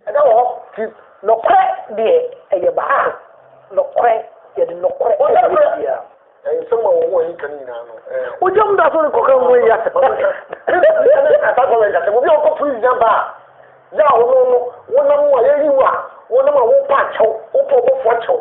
ɛda wɔ hɔ ti nɔkorɛ deɛ ɛyɛ baako ah, nɔkorɛ yɛde nɔkorɛ ɔyɛ bia nsɛm a wɔn a yɛka no nyinaa no wogya mu da so no kɔka ho yi asɛm asa kɔ wɛnka sɛ obi a wɔkɔ firi nya ba a yɛ a wɔno no wonam a yɛyi wo a wonam a wopa akyɛw wopɔ bɔfoɔ kyɛw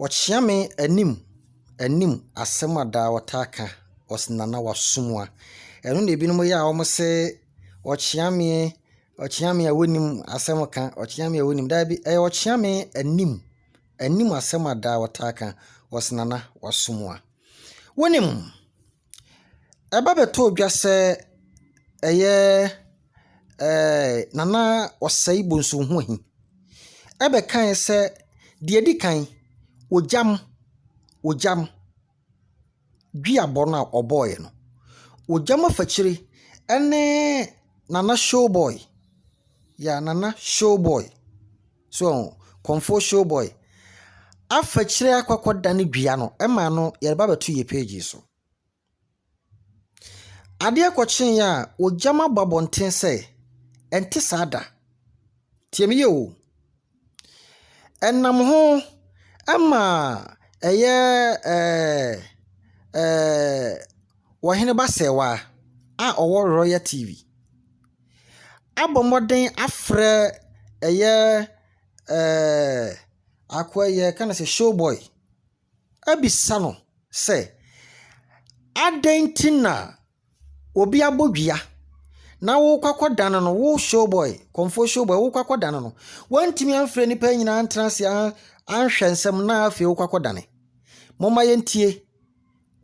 Wɔkyea me anim anim asɛm a daa wɔtaa ka, wɔse Nana w'asom a. Ɛno na binom yɛ a wɔse ɔkyea me, ɔkyea me a wonnim asɛm ka, ɔkyea me a wonnim. Daabi, ɛyɛ ɔkyea me anim anim asɛm a daa wɔtaa ka, wɔse Nana w'asom a. Wonim? Ɛba bɛtɔɔ dwa sɛ ɛyɛ Nana Osei Bosonohi bɛkae sɛ, deɛ ɛdi kan, ogyam ogyam duabɔ no a ɔbɔeɛ no, ogyam afakyire ne Nana Showboy, yeah Nana Showboy. So ɔho? Kɔmfoɔ showboy. Afa kyire akɔ akɔ da ne dua no ɛma no yɛde ba bɛto yɛ page yi so. Adeɛ kɔ kye yɛ a ɔgyam abɔ abɔnten sɛ ɛnte saa da. Tie me yɛ o. Ɛnam ho ɛma ɛyɛ ɛɛ ɛɛ ɔhene ba sɛɛwa a ɔwɔ royal TV. abɔ mmɔden afrɛ ɛyɛ akoa yi a yɛfrɛ no showboy abisa no sɛ, adɛn nti na obi abɔ dua na worekɔ akɔdane no, wo showboy, kɔmfoɔ showboy, worekɔ akɔdane no. Woantumi amfrɛ nnipa yi nyinaa antena ase anhwɛ nsɛm no na afei worekɔ akɔdane. Momma yɛntie.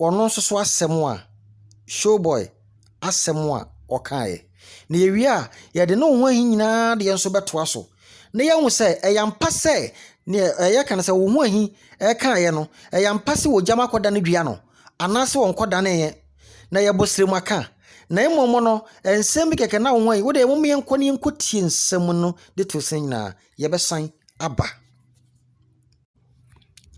wɔn nso so asɛm a showboy asɛm a ɔkaeɛ. Na yɛwie a, yɛde ne ho ahi nyinaa deɛ nso bɛtoa so na yɛahu sɛ ɛyɛ ampa sɛ neɛ ɛyɛ ka no sɛ wo ho ahi ɛkaeɛ no, ɛyɛ ampa sɛ wɔgyam akɔda no dua no anaasɛ wɔnkɔdaneeɛ na yɛbɔ serɛ mu aka. Na mmom no, nsɛm bi kɛkɛ na wo ho ahi. Wodeɛ mom yɛnkɔ na yɛnkɔtie nsɛm no de to sene nyinaa. Yɛbɛsan aba.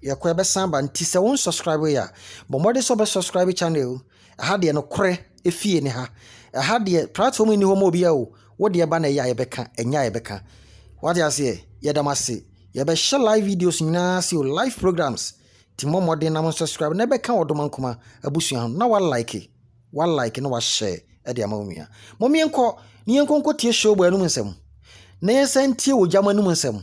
Yɛkɔ a ɛbɛsan aba nti sɛ wo nsɔskraibe yɛ a, bɔ mmɔden sɛ wobɛsɔskraibe channel yi. Ɛha deɛ nokorɛ efie ne ha. Ɛha deɛ platform nni hɔ ma obiara o. Wo deɛ ba na ɛyɛ a yɛbɛka, ɛnyɛ a yɛbɛka. Wate aseɛ? Yɛda mo ase. Yɛbɛhyɛ live videos nyinaa ase o, live programs. Nti mmɔ mmɔden na mo nsɔskraibe na ɛbɛka wɔ Doma Nkoma abusua ho na walike, walike na wahyɛ de ama wo nua. Mom yɛnkɔ na yɛnkɔ nkɔtie Showboy anom nsɛm na yɛnsan ntie Ogyama anom nsɛm.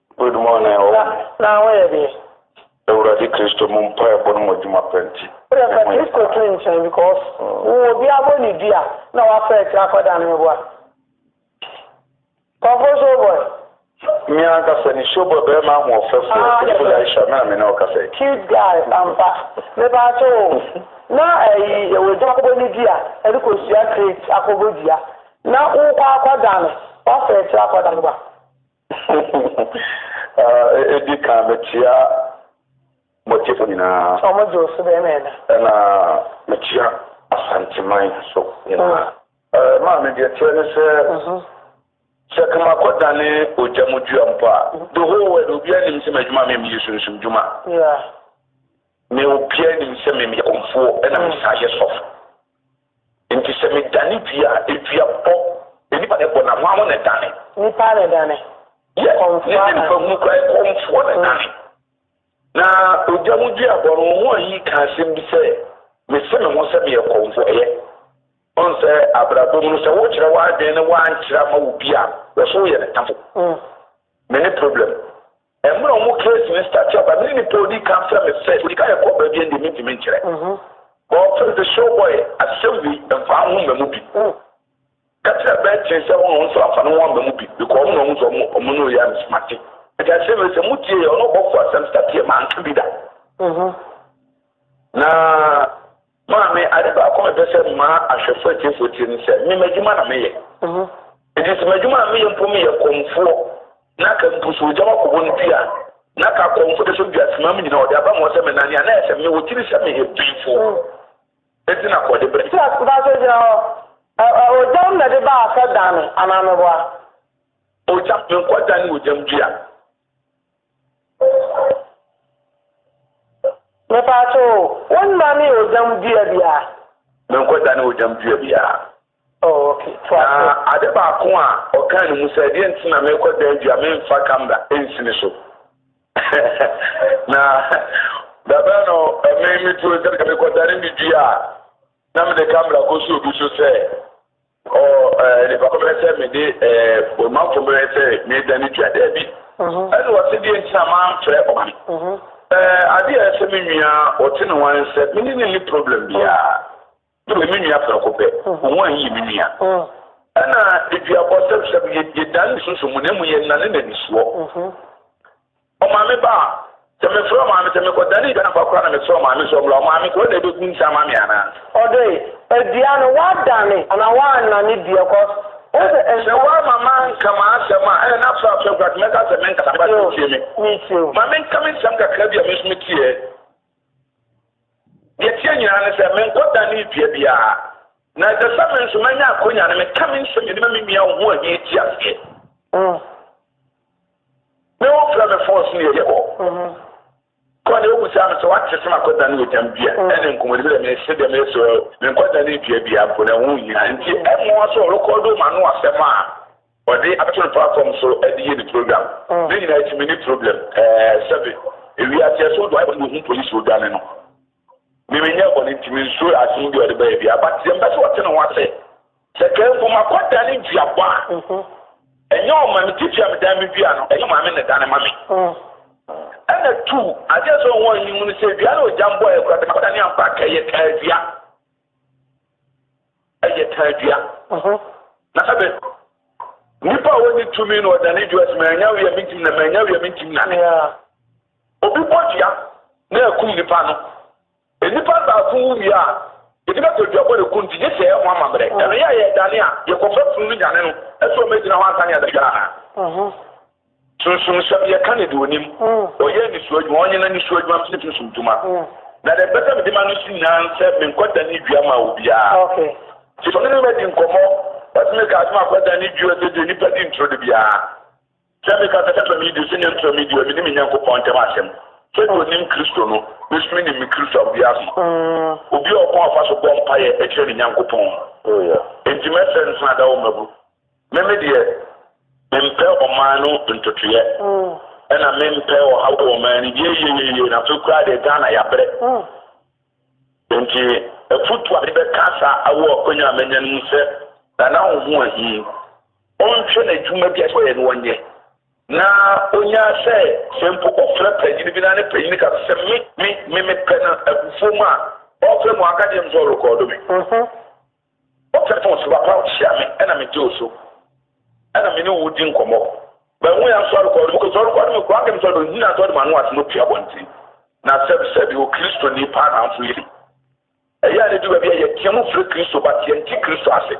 Good morning o na wo yɛ deɛ. Awurade Kristo mu mpaebɔ no mu adwuma pa nti. Wode fa Kristo to nkyɛn because wo wɔ bi abɔ ne dua na wafa akyire akɔ dane me boa. Kɔfo show boy. Me ankasa ni show boy bɛrima ahoɔfɛfoɔ ah, beautiful yeah, Aisha me na me ne wo kasa yi. Cute guy ampa. Me ba akyɛ o na ɛyi eh, yɛwɔ gya akɔbɔ ne dua ɛde kɔ sua crate akɔbɔ dua na wokɔ akɔ dane wafa akyire akɔ dane me boa. Edi kan mekyia mo atiefo nyinaa. Ɔmo gye wo so dɛn na ɛda? Ɛna mekyia Asanteman so nyinaa. Maa me deɛ teɛ ne sɛ sɛ kama kɔ dane ogya mu dua mpo a the whole world obiara nim sɛ m'adwuma me meyɛ sunsum dwuma me obiara nim sɛ me meyɛ kɔmfoɔ ɛna me saa yɛ sɔfo. Enti sɛ medane dua a, dua bɔ. Nnipa na ɛbɔ, na hwan ho na ɛdane? Nnipa na ɛdane. Yes, ne ne mfahunu koraa, ɛkɔmfoɔ na ɛdane. Na ogya mu dua bɔ no, wɔn a ayi ka asɛm bi sɛ, Mese me ho sɛ meyɛ kɔmfoɔ. Ɛyɛ. Ɔn sɛ abrabɔ mu no, sɛ wokyerɛ w'adwene ne woankyerɛ ama obi a, wɔ so woyɛ ne tafo. Me ne problem. Mmerɛ ɔmo case no start aba mene nipa a ɔdi kan frɛ me first, ɔdi kan yɛ kɔɔpɛ deɛ ndeɛ mentumi nkyerɛ but ɔfrɛ me sɛ showboy asɛm wei mfa wo ho mma mu bi, ka kyerɛ Bertie sɛ ɔno nso amfa ne ho amma mu bi because ɔmo na ɔhu sɛ ɔmo ne ɔyɛ ansemate nti asɛm wei sɛ mo tie yɛ ɔne ɔbɔfoɔ asɛm start yɛ manka bi da na Maame, ade baako a mepɛ sɛ mmaa ahwɛfo atiefoɔ tie ne sɛ, me m'adwuma na meyɛ. Enti sɛ m'adwuma a meyɛ mpo meyɛ kɔmfoɔ na ka mpo sɛ ogya wakɔbɔ no dua na ka kɔmfo de sɔ dua ase ma me nyina ɔde aba ma ɔsɛ me nane a, na ayɛ sɛ mewɔ tiri sɛ meyɛ bemfoɔ. Enti na kɔ de brɛ. Sɛ baasa gyina hɔ, ɛ-ɛ, ogyam na de baasa dane anaa meboa? Ogyam, menkɔ dane ogyam dua. Mepatwo o, wo mma me ogyam dua biara. Me nkɔ da ne ogyam dua biara. Oh, okay. Na ade baako a ɔkaa ne mu sɛ ɛdeɛ nti na mekɔ dan dua memfa kamera nsini so. na dabɛ no ɛme me tuo sɛ mekɔ dane me dua a na mede kamera kɔ so obi so sɛ. O nnipa ko, merɛ sɛ mede Omanfo merɛ sɛ meredane dua, daabi. Ɛnna ɔse, Deɛn nti na moamfrɛ ɔman? Adeɛ a ɛsɛ me nua ɔte ne wan sɛ, me ne no nni problem biara. Me ne me nua prɛko pɛ, wo wan yɛ me nua. Ɛnna aduabɔ sɛbsɛb, yɛdane nsusu mu, na mmom yɛnane n'anisoɔ. Ɔmaame ba a, sɛ mefrɛ ɔmaame, sɛ mekɔdanee dwan aba koraa na mesrɛ ɔmaame sɛ ɔmmra, ɔmaame kɔ na ɛbɛgu nsa ama me anaa? Ɔde dua no, woadane anaa woannane dua cos wohu sɛ nsa. Sɛ woamma manka m'asɛm a, ɛɛ na frɛ afrɛ koraa nti mɛka sɛ menkasa but wotie me. Metie o. Ma menka me nsɛm kakra bi a me nso metieɛ. Deɛ ɛteɛ nyinaa ne sɛ menkɔdanee dua biara. Na ɛsɛ sɛ me nso manya akwanya no meka me nsɛm nyinaa ma me nua a ɔho ahia ti aseɛ. Ne wo frɛ me fon so ne yɛyɛ hɔ kɔ ne obu saa me sɛ wate sɛ makɔ dane ɛtam dua ɛne nkɔmmɔdi sɛ me se deɛ meyɛ sɛ menkɔ dane dua bia mpo na ɛho hia nti ɛmmoa sɛ ɔrekɔdo ma no asɛm a ɔde abɛto no platform so ɛde yɛ ne program ne nyinaa ɛti me ne problem ɛɛ sɛbe ewi aseɛ so do ayɛ bɔne wɔhu polisi odwane no me menyɛ bɔne nti me nsuo asem bi ɔde bɛyɛ bi abateɛ mbɛ sɛ ɔte ne ho ase Sɛ kaa mpo ma kɔ dane duabɔ a, ɛnyɛ ɔma me titi a medan me dua no, ɛyɛ Maame na ɛdane ma me. Ɛna tu, adeɛ a ɛsɛ sɛ wɔn ani hu no sɛ dua no ogya mbɔ yɛ kora sɛ makɔ dane ampa a, ɛyɛ kaa dua. Ɛyɛ kaa dua. Na sɛ bɛ nipa a wɔnni tumi na ɔdane dua sɛ manya wia mentim na manya wia mentim nane. Obi bɔ dua na ɛkum nipa no. Nnipa baako wu wie a, yɛde bɛtɔ adwabɔ na ɛku no nti, gye sɛ yɛyɛ ho amammerɛ. Ɛno yɛ a, yɛredane a, yɛkɔfa funu no nyane no. Ɛsɛ ɔma ɛgyina hɔ ansa na yɛde dware anaa? Sunsumsɛm, Yɛka no de ɔnim. Ɔyɛ nnisoɔ adwuma, ɔnyɛ n'anisoɔ adwuma, mesɛ sunsum dwuma. Na deɛ mepɛ sɛ mede ma no so nyinaa ne sɛ menkɔdane dua mma obiara. Nti sɛ ɔne me bɛdi nkɔmmɔ, ɔse meka asɛm a, kɔdane dua sɛdeɛ nnipa di ntoro da biara. Sɛ meka sɛ, Mepɛ me disi ne ntoro me di a, menni me Nyankopɔn ntam asɛm. Sɛdeɛ ɔnim Kristo no, me nso menim me Kristo a obiara mma. Obi a ɔkwan a ɔfa so bɔ mpaeɛ kyerɛ ne Nyankopɔn no, enti mɛsrɛ no sɛ na da wo mmabu. Me me deɛ, mempɛ ɔman no ntotoeɛ, ɛna mempɛ ɔhaw wɔ ɔman no mu. Yeieieiei, na afei koraa deɛ Ghana yɛabrɛ. Enti afotuo a mede bɛka saa wɔ akwanya a manya no mu sɛ, Nana ho hu ahi. ɔnhwɛ n'adwuma bi a ɛsɛ sɛ ɔyɛ no ɔnyɛ, na ɔnya sɛ, sɛ mpo wofrɛ panyin bi na ne panyin ka no sɛ, Me, me, me, mepɛ no abufuo mu a, ɔrefrɛ mu a, ɔnka deɛ mu sɛ ɔrekɔɔdo me. Ɔka to nso, Papa, hyia me, ɛna megye wo so, ɛna me ne wo di nkɔmmɔ. Bɛhu yɛn nso ɔrekɔɔdo me, kò sɛ ɔrekɔɔdo me koraa, kɛm sɛ ɔde ɔhina sɛ ɔde m'ano ase na ɔpue abɔnten. Na sɛbsɛbi, Okristoni paa na nso yɛ. Ɛyɛ a no du baabi a yɛteɛ mu frɛ Kristo but yɛnte Kristo ase.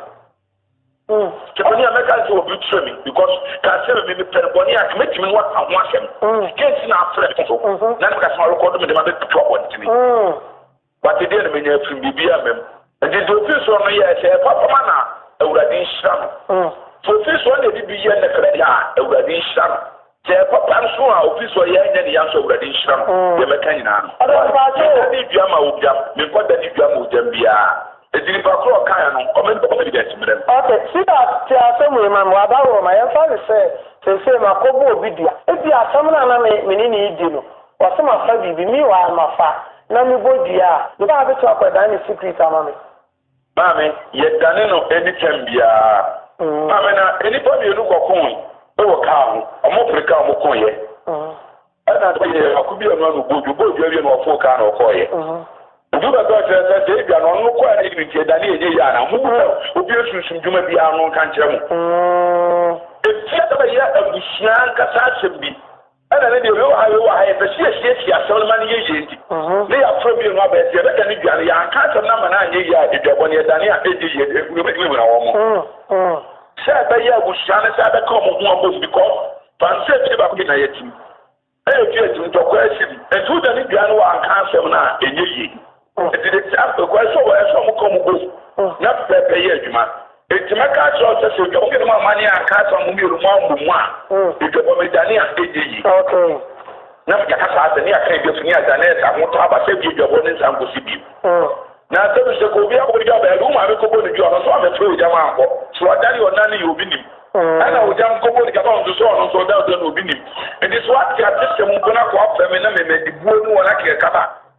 Mm. Te bɔne a mɛka sɛ obi kyerɛ me because ka sɛ me mepɛ no bɔne a mɛtumi no aka ho asɛm. Mm. Kenti na afrɛ me so. Mm-hmm. Na ne kasɛm arekɔdo me de ma bɛtutu abɔntene. Mm. But deɛ na menya afiri biribi a mam. Nti deɛ ofiri soɔ no yɛ sɛ ɛfa fama na Awurade nhyira no. Mm. Deɛ ofiri soɔ na ɛde bi yɛ nnɛfɛdɛ a Awurade nhyira no. Sɛ papa nso a ofi so yɛ nyɛ ne ya nso awurade nhyira no deɛ mɛka nyinaa no meda ne dua ma ogyam menkɔ da ne dua ma ogyam biaa enti nipa korɔ ɔkaeɛ no ɔmɛ ne confidence mmerɛ no. Ok sweetheart tie asɛm wei ma me waba wɔ ma yɛmfa no sɛ seisei makɔ bɔ obi dua ebia asɛm no a na me me ne no redi no ɔse mafa biribi meanwhile mafa na mebɔ dua a meba abɛtumi akɔ dan ne secret ama me Maame, yɛdane no ani tɛm biara. Maame, na nnipa mmienu kɔkooe wɔ kaa ho. Wɔpere kaa wɔn kooeɛ. Ɛna sɛ yɛyɛ baako bi ano ano bɔɔdwo, bɔɔdwo awie na wɔfoo kaa na wɔkɔɔeɛ. Obi bɛka ɔkyerɛ sɛ sɛ ebia na ɔno no kɔɛ na yɛde nti ɛdane ɛnyɛ yie anaa. Mo bɛhwɛ obi asunsum dwuma biara no nka nkyerɛ mo. Ɛfie bɛyɛ abusua ankasa asɛm bi. Ɛna ne deɛ wei wɔ ha wei wɔ ha yɛpɛ sɛ yɛsiesie asɛm no ma no yɛ yie nti ne yɛaporɔ bio no abɛn sɛ yɛbɛdane dwa no yɛanka asɛm no ama no anyɛ yie a aduabɔ no yɛdane a ɛnyɛ yie de wobɛtumi ahura wɔn mo sɛ ɛbɛyɛ abusua no sɛ bɛka wɔn ho abom because pansɛ fie baako bi na yɛtim ɛyɛ fie atim ntɔkwa asi bi ɛnti wodane dwa no wɔ anka asɛm no a ɛnyɛ yie. Enti de te apekwaa so wɔ ɛso a mokɔ mo bom na pɛpɛɛpɛ yɛ adwuma. Enti mɛka akyerɛ wo sɛ, sɛ dwabɔ mmienu mu amanneɛ anka asɛm a mo mmienu moammɔ mu a, dwabɔ medane a ɛnyɛ yie. Na mede aka saa sɛ, ne Akan Dwa fi ne Adanɛɛs ahotɔ aba sɛ ɛbue dwabɔ no nsan nkɔsi bio. Na asɛm no sɛ, Kɔ obi akɔbɔ dwa bɛn? Ɛde wo maame kɔbɔ no dwa, ɔno nso ammɛfrɛ ogya ma ankɔ. Sɛ wadane ɔna no yɛ obi nim. Ɛna ogya nkɔbɔ no dwa ma ɔno nso, sɛ ɔno nso ɔda ɔdɔ no obi nim. Enti sɛ woate atesɛm mpo na kɔ afrɛ me na mede buo ne wɔn akeka kama.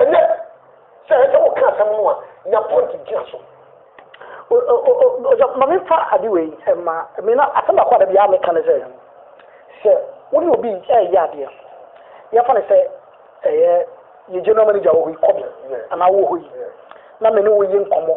Ɛnɛ, sɛ ɛsɛ sɛ woka asɛm no a, nya point gyina so. Ma memfa ade wei mma. Me na asɛm baako a da biara meka ne sɛ, sɛ wo ne obi reyɛ adeɛ, yɛmfa no sɛ ɛyɛ yɛ general manager wɔ hɔ yi, Kɔbe, anaa wowɔ hɔ yi, na me ne wo yɛ nkɔmmɔ.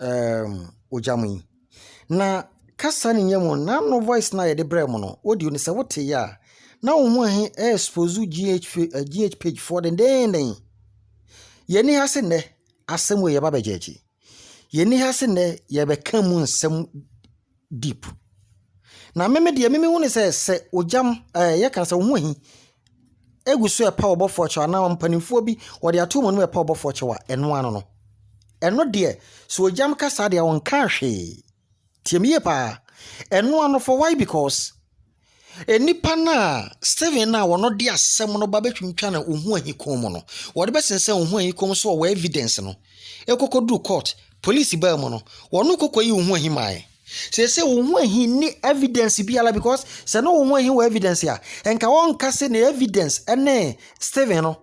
ɛɛm ogya mu yi. Na kasa no nyɛ mu n'ano voice no a yɛde brɛ mo no, audio no sɛ woteeɛ a, na wo ho he ɛɛsposu GH GH page foɔ dendenden. Yɛnni ha se nnɛ asɛm wei yɛba abɛgyɛɛgye. Yɛnni ha se nnɛ yɛbɛka mu nsɛm. deep. Na me me deɛ me mehu ne sɛ sɛ ogyam ɛɛ yɛ kan sɛ ohun ahi egu so ɛpa ɔbɔfoɔ kyɛw anaa mpanimfoɔ bi wɔde ato wɔn mu ɛpa ɔbɔfoɔ kyɛw a ɛno ano no ɛno deɛ sɛ ogyam kasa deɛ wɔn kan hwee tie me yie paa ɛno ano for why because. Nnipa no a Stephen a wɔn de asɛm no ba bɛtwintwan a wɔhu ahikɔn mu no, wɔde bɛsensɛn wɔn ho ahikɔn mu sɛ wɔwɔ evidence no. Ɛkɔkɔduru court, police baa mu no, wɔn kɔkɔyi wɔn ho ahi mae. Seesei wɔn ho ahi nni evidence biara because sɛ na wɔn ho ahi wɔ evidence a, nka wɔnka se ne evidence ne Stephen no.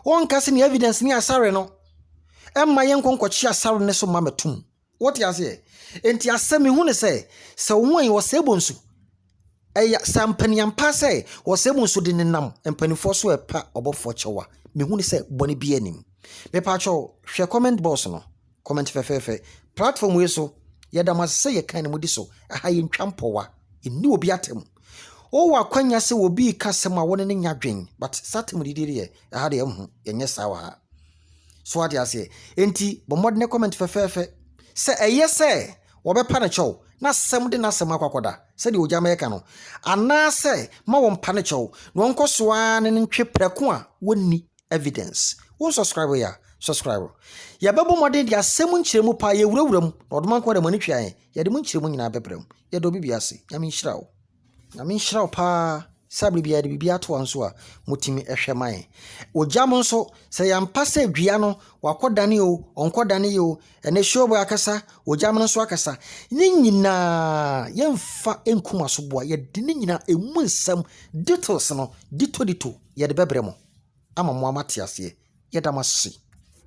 Wɔnka se ne evidence ne asare no. Ɛmma yɛnkɔ nkɔkye asare no so mma mɛtom. Wote aseɛ? Enti asɛ mehu ne sɛ, sɛ wo ho ɛyɛ ɔsɛebo nso, ɛyɛ sɛ ampaniampa sɛ ɔsɛebo nso de nenam mpanimfoɔ so ɛpa ɔbɔfoɔ kyɛw a, mehu ne sɛ bɔne biara nnim. Mepaakyɛw, hwɛ comment box no, comment fɛfɛɛfɛ. Platform wei so, yɛda mo ase sɛ yɛkan na modi so. Aha yɛntwa mpɔwa, yɛnni obi atam. Wowɔ akwanya sɛ obi reka asɛm a wo ne no nyɛ adwen, but saa atamdidi deɛ, ɛha deɛ, mho, yɛnyɛ saa wɔ ha. So wate aseɛ? Enti bɔ mmɔden comment fɛfɛɛfɛ. Sɛ ɛyɛ sɛ wɔbɛpa no kyɛw na asɛm de n'asɛm akɔ akɔda sɛdeɛ ogya mɛka no, anaasɛ ma wɔmpa no kyɛw na ɔnkɔ so ara ne no ntwe prɛko a wɔnni evidence. Wo nsubscribe yɛ a, subscribe. Yɛbɛbɔ mmɔden de asɛm nkyerɛmu paa, yɛwurawura mu, na ɔdoma nko ara na mo ani twe ayɛn, yɛde mo nkyerɛmu nyinaa bɛbrɛ mo. Yɛda obi biara ase. Nyame nhyira wo. Nyame nhyira wo paa sɛ abre biara de biribi ato wɔn so a motumi hwɛ ma yɛn. Ogya mo nso sɛ yɛmpa sɛ dua no wakɔ dane o, ɔnkɔ dane yɛ o, ɛnɛ show boy akasa, ogya mo nso akasa. Ne nyinaa yɛmfa nkum asoboa, yɛde ne nyinaa emu nsɛm details no dito dito yɛde bɛbrɛ mo ama mo amate aseɛ. Yɛda mo ase.